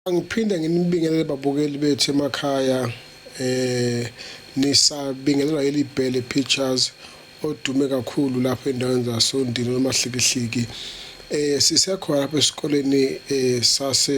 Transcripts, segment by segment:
Angiphinde nginibingelele babukeli bethu emakhaya eh nisabingelelwa yeli bhele pictures odume kakhulu lapho endaweni zasondini nomahlikihliki eh sisekhona lapha esikoleni eh sase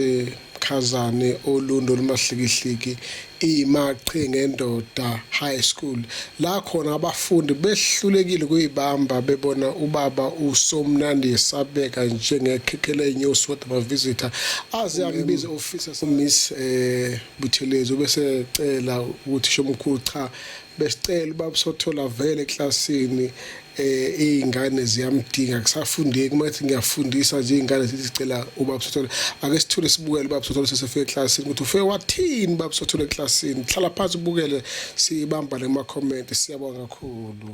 Khazane olundo lomahlikihliki iMachingendoda High School la khona abafundi behlulekile kuyibamba bebona ubaba uSomnandi esabeka njengekhekhela lenyosi kodwa bavisitor aze angibize officer Miss eh Buthelezi ubese cela ukuthi shomkhulu cha besicela uba sothola vele eklasini um eh, iy'ngane ziyamdinga kusafundeki uma ethi ngiyafundisa nje iy'ngane zithi zicela ubaba sothole ake sithule sibukele ubaba sothole sesefike eklasini ukuthi ufike wathini ubaba sothole eklasini hlala phansi ubukele siyibamba nemakhomenti siyabonga kakhulu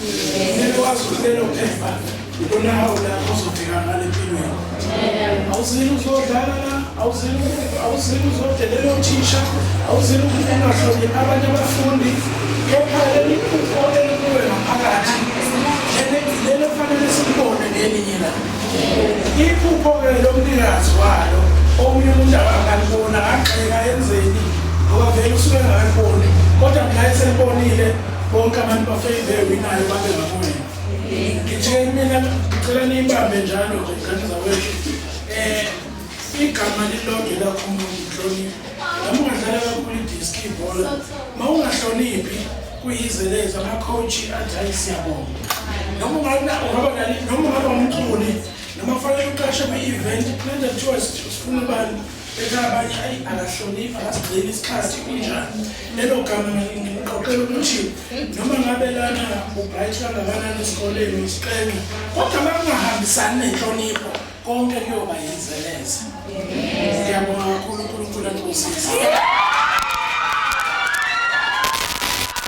Kumele wazi ukuthi lelo phepha ikona hawu la ozofika ngale empilweni. Awuzile uzodlala la, awuzile awuzile uzodelela othisha, awuzile ungahloniphi abanye abafundi. Kepha leli phupho elikuwe ngaphakathi lelo fanele silibone ngelinye la. Iphupho-ke lomnikazi walo omunye umuntu akangalibona agxeka enzeni ngoba vele usuke engakaliboni kodwa mna eselibonile bonke abantu bafeyile winayo babe ngakuwena ngitheni mina ngicela niyibambe njalo nje ngane zakwethu um igama lilonge lakho umuntu nhloniphi noma ungadlala kakhulu idiski ibhola ma ungahloniphi kuyizeleza ama-coach athi hayi siyabonga noma ungaba umculi noma kufanele uqashe kwi-event kulento kuthiwa sifuna ubani Beka abanye ayi akahloniphi akasigcini isikhathi kunjani. Lelo gama ngiqoqela ukuthi noma ngabe lana ubright kangakanani esikoleni isiqenqa kodwa makungahambisani nenhlonipho konke kuyoba yinzeleza. Ngiyabonga kakhulu uNkulunkulu akusizile.